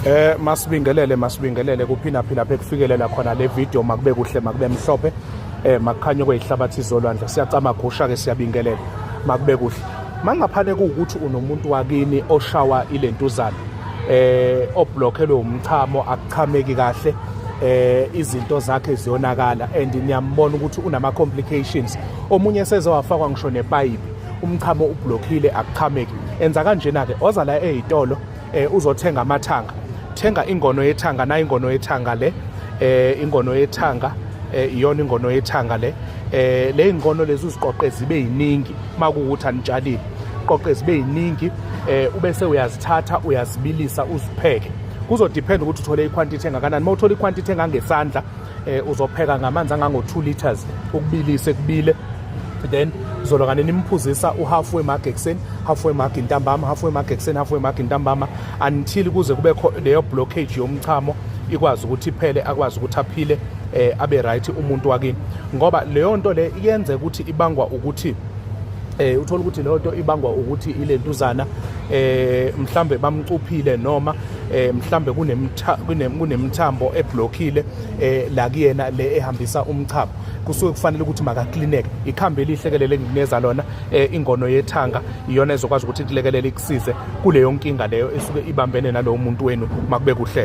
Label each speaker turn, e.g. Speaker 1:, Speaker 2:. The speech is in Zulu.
Speaker 1: Eh masibingelele masibingelele kuphina phila lapha ekufikelela khona le video makube kuhle makube mhlophe eh makukhanye kwezihlabathi zolwandle siyacama gusha ke siyabingelela makube kuhle mangaphane kuwukuthi unomuntu wakini oshawa ilentuzana eh oblockelwe umchamo akuchameki kahle eh izinto zakhe ziyonakala and niyambona ukuthi unama complications omunye sezowafakwa ngisho nepipe umchamo ublockile akuchameki enza kanjena ke oza la ezitolo eh, uzothenga amathanga thenga ingono yethanga na ingono yethanga le eh, ingono yethanga eh, iyona ingono yethanga le eh, le ingono lezi uziqoqe zibe yiningi uma kuwukuthi anitshalile qoqe zibe yiningi eh, ube sewuyazithatha uyazibilisa uzipheke kuzodependa ukuthi uthole ikhwantithi engakanani uma uthola ikhwantithi engangesandla eh uzopheka ngamanzi angango 2 liters ukubilise kubile then zolo kane nimphuzisa uhalfway mark ekuseni halfway mark intambama halfway mark ekuseni halfway mark intambama until kuze kube leyo blockage yomchamo ikwazi ukuthi iphele akwazi ukuthi aphile eh abe right umuntu wakini ngoba leyo nto le yenze ukuthi ibangwa ukuthi eh uthola ukuthi leyo nto ibangwa ukuthi ilentuzana eh mhlambe bamcuphile noma eh mhlambe kunemithambo eblockile eh la kuyena le ehambisa umchamo kusuke kufanele ukuthi makaklineke ikhambi elihle ke lele nginikeza lona eh, ingono yethanga iyona ezokwazi ukuthi kulekelele ikusize kuleyo nkinga leyo esuke ibambene nalowo muntu wenu makube kuhleke